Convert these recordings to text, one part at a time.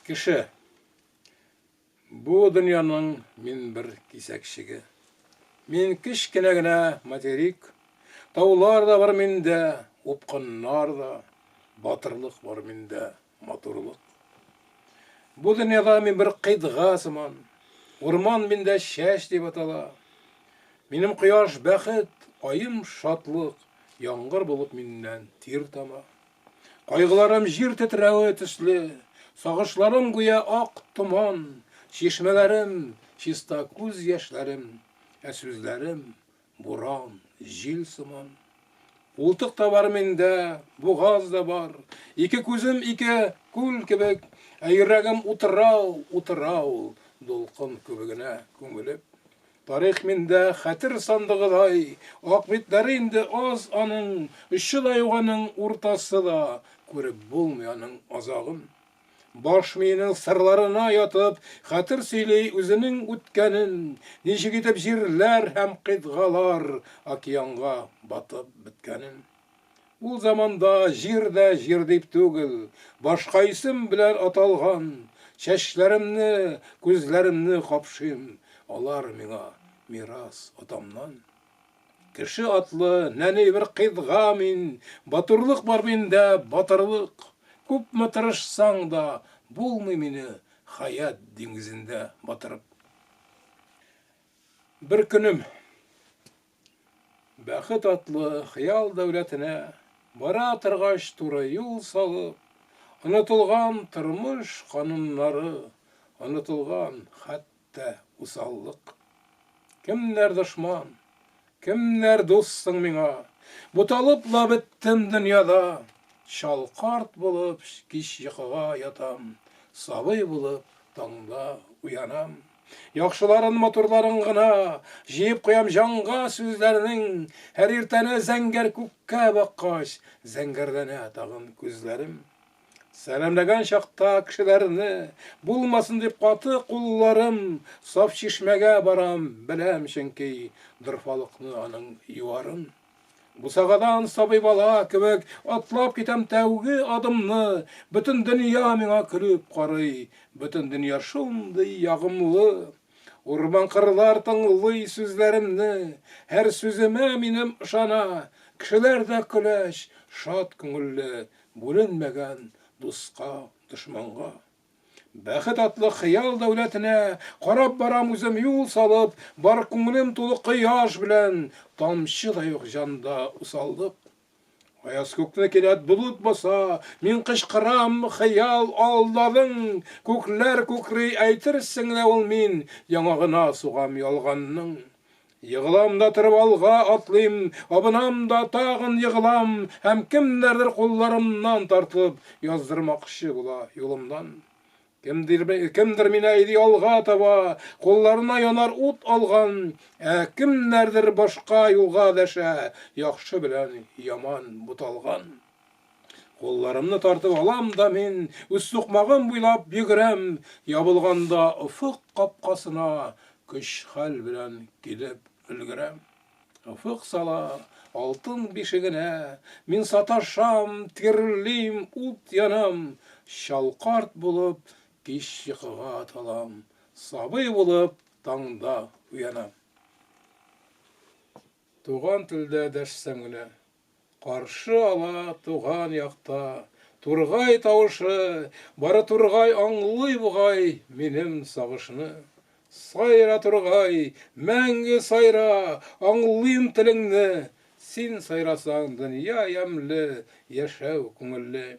Кеше. Бу дөньяның мин бер кисәкчеге. Мин кечкенә генә материк. Таулар да бар миндә, упкыннар да, батырлык бар миндә. матурлык. Бу дөньяда мин бер кыйтга сыман. Урман миндә чәч дип атала. Минем кояш бәхет, аем шатлык, яңгыр булып миннән тир тама. Кайгыларым җир тетрәве төсле, сагышларым гүя ак томан, чишмәләрем, чиста күз яшьләрем, ә сүзләрем Буран, җил сыман. Култык та бар миндә, бугаз да бар. Ике күзем ике күл кебек, ә йөрәгем утрау, утрау, дулкын күбегенә күмелеп. Тарих миндә хәтер сандыгыдай, ак битләре инде аз аның, очы да юк аның, уртасы да, күреп булмый аның азагын. Баш миенең сырларына ятып, хәтер сөйли үзенең үткәнен, ничек итеп җирләр һәм кыйтгалар океанга батып беткәнен. Ул заманда җир дә җир дип түгел, башка исем белән аталган. Чәчләремне, күзләремне капшыйм, алар миңа мирас атамнан. Кеше атлы, нәни бер кыйдга мин, Батурлык бар миндә, батырлык. Күпме тырышсаң да, булмый мине Хаят диңгезендә батырып. Бер көнем бәхет атлы хыял дәүләтенә Бара торгач туры юл салып, Онытылган тормыш кануннары, Онытылган хәтта Әлбәттә, усаллык. Кемнәр дошман, кемнәр дус соң миңа? Буталып ла беттем дөньяда. Чал карт булып кич йокыга ятам, Сабый булып таңда уянам. Яхшыларын, матурларын гына Җыеп куям җанга сүзләрнең. Һәр иртәне зәңгәр күккә баккач, Зәңгәрләнә тагын күзләрем. Сәламләгән чакта кешеләрне, Булмасын дип каты кулларым, Саф чишмәгә барам, беләм чөнки, Дорфалыкны аның юарым. Бусагадан сабый бала кебек, Атлап китәм тәүге адымны, Бөтен дөнья миңа көлеп карый, Бөтен дөнья шундый ягымлы. Урман-кырлар тыңлый сүзләремне, Һәр сүземә минем ышана, Кешеләр дә көләч, шат күңелле, Бүленмәгән дуска, дошманга. Бәхет атлы хыял дәүләтенә Карап барам үзем юл салып, Бар күңелем тулы кояш белән, Тамчы да юк җанда усаллык. Аяз күкне кинәт болыт баса, Мин кычкырам, хыял, алдадың! Күкләр күкри, әйтерсең лә ул мин, Яңагына сугам ялганның. Егылам да торып алга атлыйм, абынам да тагын егылам һәм кемнәрдер кулларымнан тартып, яздырмакчы була юлымнан. Кемдер мине әйди алга таба, кулларына янар ут алган, ә кемнәрдер башка юлга дәшә, яхшы белән яман буталган. Кулларымны тартып алам да мин, Үз сукмагым буйлап йөгерәм, Ябылганда офык капкасына, Көч-хәл белән килеп өлгерәм. Офык сала алтын бишегенә, Мин саташам, тирлим, ут янам, Чал карт булып кич йокыга талам, Сабый булып таңда уянам. Туган телдә дәшсәң генә. Каршы ала туган якта Тургай тавышы, Бары Тургай аңлый бугай Минем сагышны. Сайра, Тургай, мәңге сайра, Аңлыйм телеңне, Син сайрасаң дөнья ямьле, Яшәү күңелле.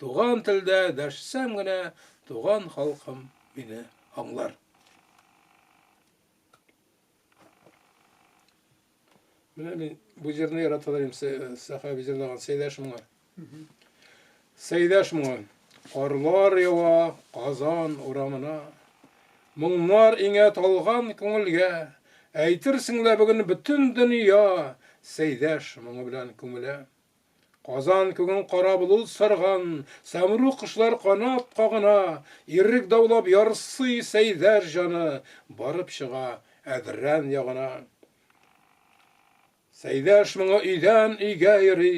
Туган телдә дәшсәм генә, туган халкым мине аңлар. Менә мин бу җырны яраталар идем, Сәхәби җырлаган Сәйдәш моңа. Сәйдәш моңа. Карлар ява Казан урамына. Моңнар иңә талган күңелгә. Әйтерсең лә бүген бөтен дөнья Сәйдәш моңы белән күмелә. Казан күген кара болыт сарган, Сәмруг кошлар канат кагына, Ирек даулап ярсый Сәйдәш җаны, Барып чыга Әдрән ягына. Сәйдәш моңы өйдән өйгә йөри,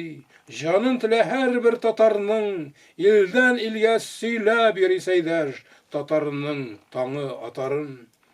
Җанын телә һәрбер татарның, Илдән илгә сөйләп йөри Сәйдәш татарының таңы атарын.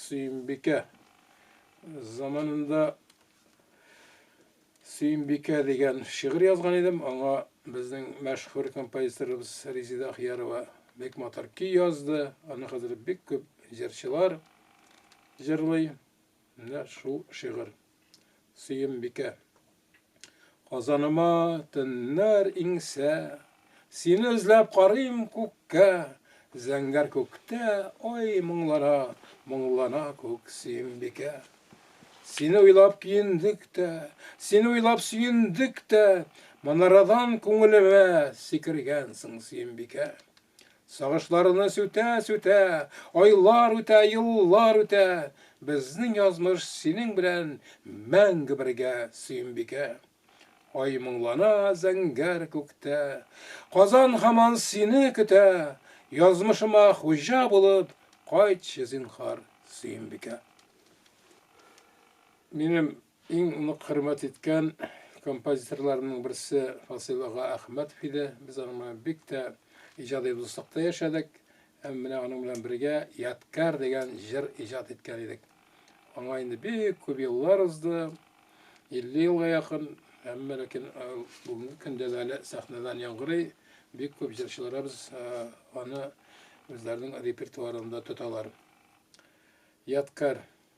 Сөембикә. Заманында Сөембикә дигән шигырь язган идем. Аңа безнең мәшһүр композиторыбыз Резида Ахиярова бик матур көй язды. Аны хәзер бик күп җырчылар җырлый. Менә шул шигырь. Сөембикә. Казаныма төннәр иңсә, Сине эзләп карыйм күккә, Зәңгәр күктә, ой, моңлана, Моңлана күк, Сөембикә. Сине уйлап киендек тә, Сине уйлап сөендек тә, Манарадан күңелемә Сикергәнсең, Сөембикә. Сагышларны сүтә-сүтә, Айлар үтә, еллар үтә, Безнең язмыш синең белән Мәңге бергә, Сөембикә. Ай моңлана зәңгәр күктә, Казан һаман сине көтә, Язмышыма хуҗа булып Кайтчы, зинһар, Сөембикә. Минем Иң нык хөрмәт иткән композиторларымның берсе Фасыйл ага Әхмәтов иде. Без аның белән бик тә иҗади дуслыкта яшәдек. Һәм менә аның белән бергә Ядкар дигән җыр иҗат иткән идек. Аңа инде бик күп еллар узды, 50 елга якын, әмма ләкин бүгенге көндә дә әле сәхнәдән яңгырый. Бик күп җырчыларыбыз аны үзләренең репертуарында тоталар. Ядкар.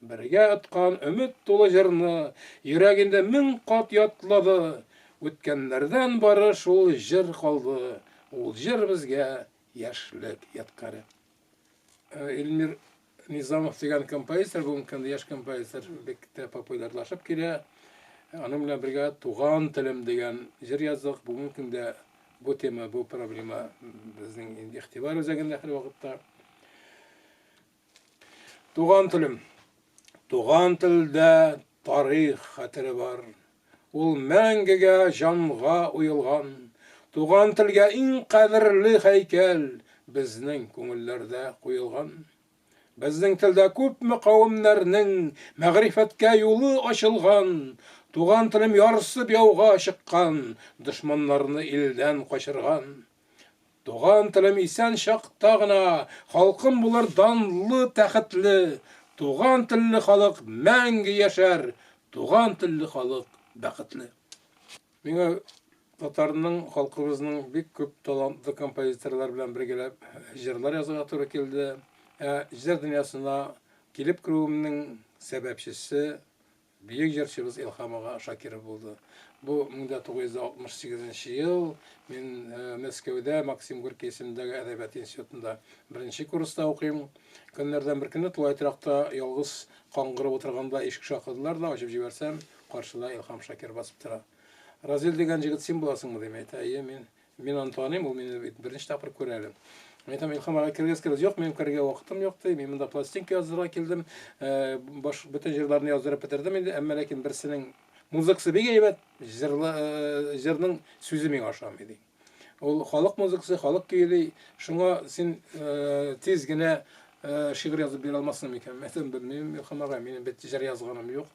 Бергә откан өмет тулы җырны Йөрәгендә мең кат ятлады. Үткәннәрдән бары шул җыр калды, Ул җыр безгә яшьлек ядкаре. Илмир Низамов дигән композитор, бүгенге көндә яшь композитор, бик тә популярлашып килә. Аның белән бергә Туган телем дигән җыр яздык. Бүгенге көндә бу тема, бу проблема безнең игътибар үзәгендә һәрвакытта. Туган телем. Туган телдә тарих хәтере бар. Ул мәңгегә җанга уелган. Туган телгә иң кадерле һәйкәл безнең күңелләрдә куелган. Безнең телдә күпме кавемнәрнең мәгърифәткә юлы ачылган. Туган телем ярсып яуга чыккан, дошманнарны илдән качырган. Туган телем исән чакта гына, Халкым булыр данлы, тәхетле. Туган телле халык мәңге яшәр, Туган телле халык бәхетле. Миңа татарның, халкыбызның бик күп талантлы композиторлар белән бергәләп җырлар язарга туры килде. Ә җыр дөньясына килеп керүемнең сәбәпчесе Бөек җырчыбыз Илһам ага Шакиров булды. Бу 1968 нче ел, мин Мәскәүдә Максим Горький исемендәге әдәбият институтында беренче курста укыйм. Көннәрдән бер көнне тулай торакта ялгыз каңгырып утырганда ишек шакыдылар да, ачып җибәрсәм, каршыда Илһам Шакир басып тора. Разил дигән җегет син буласыңмы? дим, әйтә, әйе, мин. Мин аны таныйм, ул мине бит беренче тапкыр күрә әле. Мин әйтәм, Илхам ага кергәс кергәс, юк, минем керергә вакытым юк ди. Мин монда пластинка яздырырга килдем. Э, баш бөтен җырларны яздырып бетердем инде, әмма ләкин берсенең музыкасы бик әйбәт, җырлы э, җырның сүзе миңа ошамый ди. Ул халык музыкасы, халык көйли. Шуңа син э, тиз генә шигырь язып бирә алмассың микән? Мин әйтәм, белмим, Илхам ага, минем бит җыр язганым юк.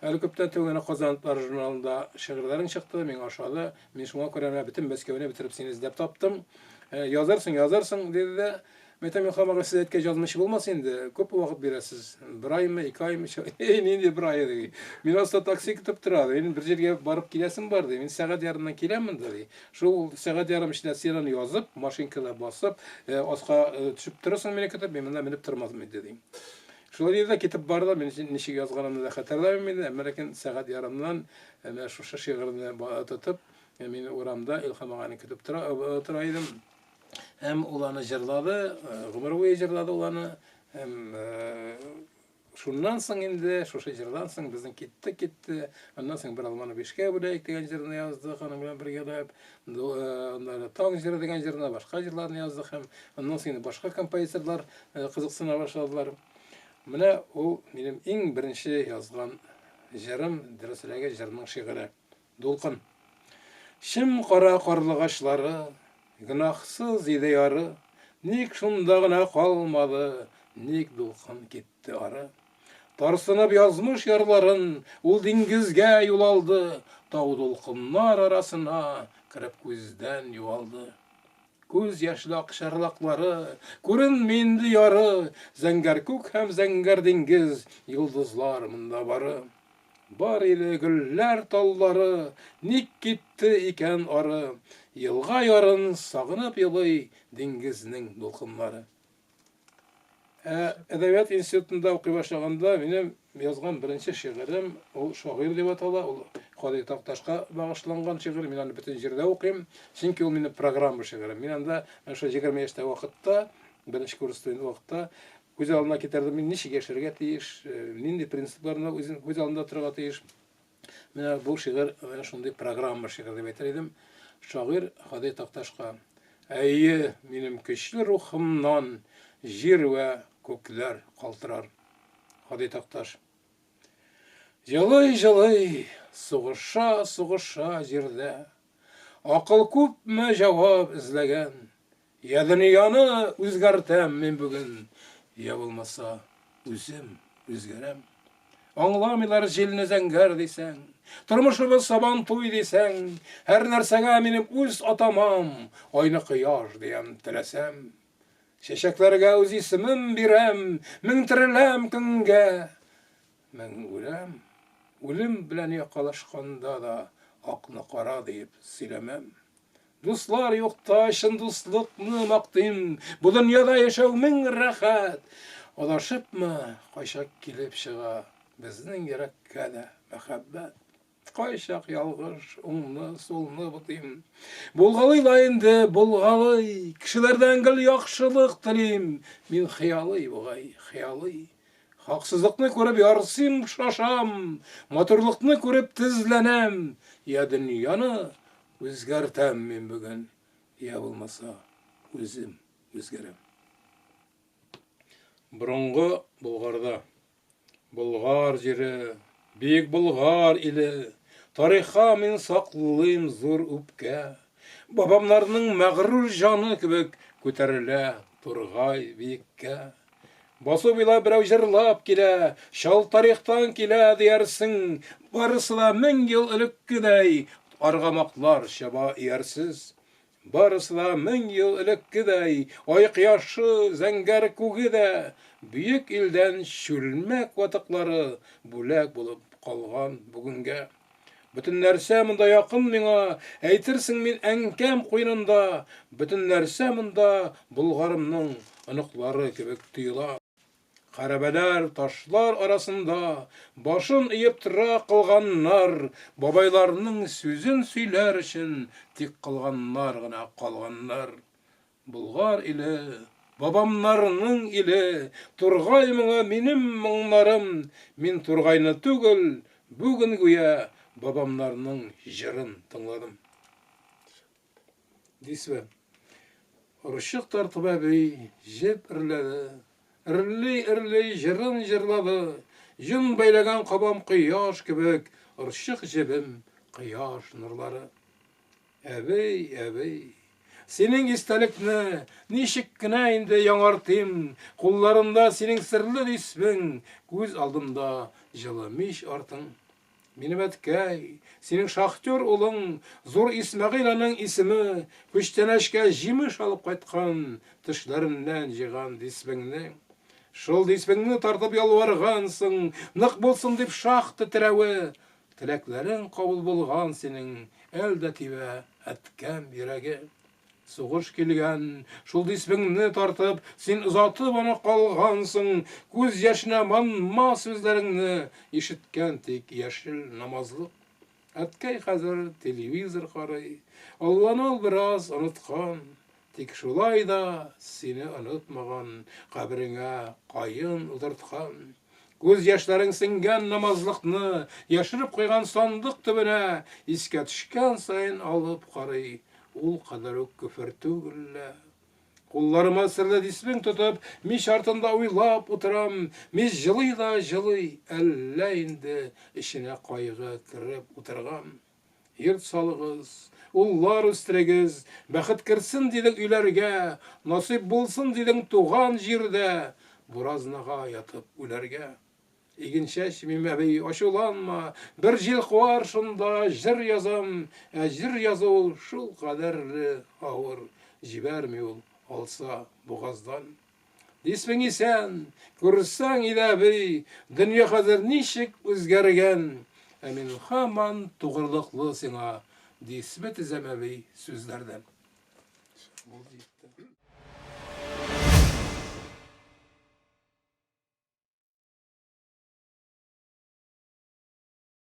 Әле күптән түгел генә Казан журналында шигырьләрең чыкты, миңа ошады. Мин шуңа күрә менә бөтен Мәскәүне бетереп сине эзләп таптым. Ә, язарсың, язарсың, диде дә, Мәйтәм Миңхам агай, сез әйткәч язмыйча булмас инде, күпме вакыт бирәсез? Бер аймы, ике аймы? Эй, нинди бер ай, ди. Мин аста такси көтеп тора, ди. Мин бер җиргә барып киләсем бар, ди. Мин сәгать ярымнан киләм монда, ди. Шул сәгать ярым эчендә син аны язып, машинкада басып, э, аска э, төшеп торырсың мине көтеп, мин монда менеп тормасмы иде, ди. Шулай диде дә китеп барды. Мин ничек язганымны да хәтерләмим инде, әмма ләкин сәгать ярымнан менә шушы шигырьне тотып, мин урамда Илһам аганы көтеп тора идем. Һәм ул аны җырлады, гомер буе җырлады ул аны. Һәм шуннан соң инде, шушы җырдан соң безнең китте, китте. Аннан соң бер алманы бишкә бүләк дигән җырны яздык аның белән бергәләп. Аннары Таң җыры дигән җырына башка җырларны яздык һәм аннан соң башка композиторлар кызыксына башладылар. Менә ул минем иң беренче язган җырым, дөресрәге җырның шигыре. Дулкын. Чым кара карлыгачлары, гөнаһсыз иде яры, ник шунда гына калмады, ник дулкын китте ары? Тарсынып язмыш ярларын, ул диңгезгә юл алды, тау дулкыннар арасына кереп күздән югалды. Күз яшьле акчарлаклары, күренми инде яры, зәңгәр күк һәм зәңгәр диңгез, йолдызлар монда бары. Бар иде гөлләр таллары, ник китте икән ары, елга ярын сагынып елый диңгезнең дулкыннары. Ә әдәбият институтында укый башлаганда минем язган беренче шигырем ул Шагыйрь дип атала. Ул Кади Такташка багышланган шигырь. Мин аны бөтен җирдә укыйм, чөнки ул минем программа шигырем. Мин анда менә шул 20 яшьтә вакытта, беренче курс студент вакытта күз алдына китердем, мин ничек яшәргә тиеш, э, нинди принципларны үзем күз алдында торырга тиеш. Менә бу шигырь менә шундый программа шигырь дип әйтер идем. Шагыйрь Һади Такташка. Әйе, минем көчле рухымнан җир вә күкләр калтырар. Һади Такташ. Елый-елый, сугыша-сугыша җирдә. Акыл күпме җавап эзләгән, Я дөньяны үзгәртәм мин бүген, Я булмаса, үзем үзгәрәм. Аңламыйлар җилне зәңгәр дисәң, Тормышыбыз сабантуй дисәң, Һәр нәрсәгә минем үз атамам, Айны кояш диям теләсәм. Чәчәкләргә үз исемем бирәм, Мең тереләм көнгә, мең үләм. Үлем белән якалашканда да, Акны кара диеп сөйләмәм. Дуслар юкта чын дуслыкны мактыйм. Бу дөньяда яшәү мең рәхәт. Адашыпмы, кайчак килеп чыга безнең йөрәккә дә мәхәббәт. Кайчак ялгыш, уңны, сулны бутыйм. Булгалый да инде, булгалый. Кешеләрдән гел яхшылык телим. Мин хыялый бугай, хыялый. Хаксызлыкны күреп ярсыйм, шашам. Матурлыкны күреп тезләнәм. Я дөньяны Үзгәртәм мин бүген, йә булмаса, үзем үзгәрәм. Борынгы Болгарда. Болгар җире, Бөек Болгар иле, Тарихка мин саклыйм зур үпкә. Бабамнарның мәгърур җаны кебек Күтәрелә тургай биеккә. Басу буйлап берәү җырлап килә, Чал тарихтан килә, диярсең, Барысы да мең ел элеккедәй, Аргамаклар чаба иярсез. Барысы да мең ел элеккедәй, Ай кояшы, зәңгәр күге дә, Бөек илдән чүлмәк ватыклары Бүләк булып калган бүгенгә. Бөтен нәрсә монда якын миңа, әйтерсең мин әнкәм куенында, бөтен нәрсә монда Болгарымның оныклары кебек тоела. Хәрабәләр, ташлар арасында башын иеп тора кылганнар, бабайларының сүзен сөйләр өчен тик кылганнар гына калганнар. Болгар иле, бабамнарның иле, Тургай моңы минем моңнарым, Мин Тургайны түгел, бүген гүя Бабамнарның җырын тыңладым. Дисвә. Орчык тартып әби җеп эрләде, Эрли-эрли җырын җырлады, Җон бәйләгән кабам кояш кебек, Орчык җебем, кояш нурлары. Әбей, әбей. Синең истәлекне ничек кенә инде яңартыйм, кулларымда синең серле исмең, күз алдымда җылы мич артың. Минем әткәй, синең шахтер улың, зур Исмәгыйль аның исеме, күчтәнәчкә җимеш алып кайткан, төшләреннән җыйган дисбеңне. Шул дисбеңне тартып ялваргансың, нык булсын дип шахта терәве, Теләкләрең кабул булган синең, Әл дә тибә, әткәм, йөрәге. Сугыш килгән, шул дисбеңне тартып, Син озатып аны калгансың. Күз яшенә манма сүзләреңне Ишеткән тик яшел намазлык. Әткәй хәзер телевизор карый, Алланы ул бераз оныткан. Тик шулай да сине онытмаган, Кабереңә каен утырткан. Күз яшьләрең сеңгән намазлыкны Яшереп куйган сандык төбенә Искә төшкән саен алып карый, Ул кадәр үк көфер түгел лә. Кулларыма серле дисбең тотып, Мич артында уйлап утырам. Мич җылый да җылый, әллә инде Эченә кайгы кереп утырган. Йорт салыгыз, уллар үстерегез, бәхет керсен дидең өйләргә, насыйп булсын дидең туган җирдә буразнага ятып үләргә. Иген чәчмим, әби, ачуланма, бер җил куар шунда җыр язам, ә җыр язу шул кадәрле авыр, җибәрми ул алса бугаздан. Исмең исән, күрсәң иде, әби, дөнья хәзер ничек үзгәргән, ә мин һаман тугрылыклы сиңа, ди исме тезәм әби сүзләрдән.